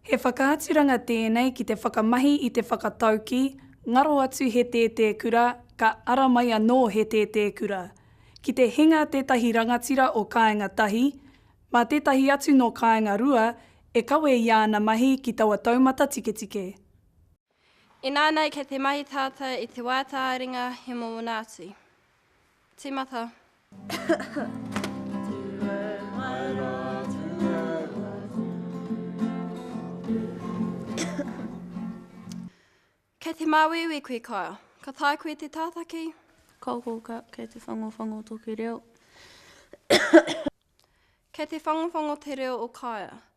He whakaaturanga tēnei ki te whakamahi i te whakatauki, ngaro atu he tētē kura, ka ara mai anō he tētē kura. Ki te hinga tētahi rangatira o kāinga tahi, mā tētahi atu nō kāinga rua e kawe i āna mahi ki taua taumata tiketike. Inā nei kei te mahi tātā i te wā tāringa he mōna atu. Tīmata. Kei te māuiui koe ka. Ka tae koe te tātaki. Ka oko ka, kei te whangowhango toku reo. Kei te whangowhango te reo o Kaea.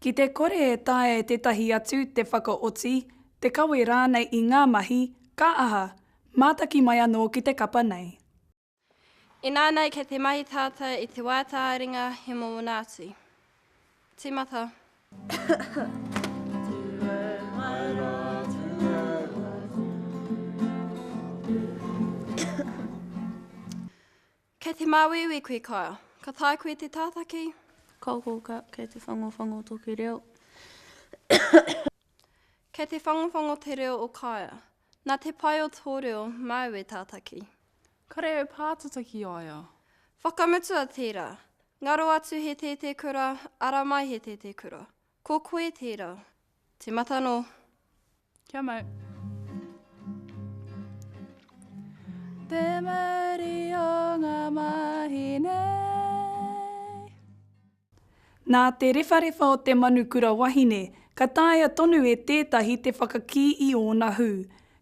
Ki te kore e taea e tētahi atu te whakaoti, te kawe rānei i ngā mahi, ka aha, mātaki mai anō ki te kapa nei. Inānei kei te mahi tātou i te wā tā ringa he mōna atu. Tīmata. Kei te māuiui koe ka. Ka tae koe te tātaki. Ka kōkā kei te whangowhango toki reo. Kei te whangowhango te reo o Kaea. Nā te pai o tō reo māu e tātaki. Kare e pātata ki a ia. Whakamutua tērā. Ngaro atu he tētē kura, ara mai he tētē kura. Ko koe tērā. Te mata nō. Kia mau. Te mauri o ngā mahi nei. Nā te rewharewha o te manu kura wahine, ka taea tonu e tētahi te whakakī i ōna hū.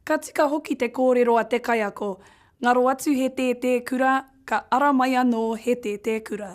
Ka tika hoki te kōrero a te kaiako, ngaro atu he tētē kura, ka ara mai anō he tētē kura.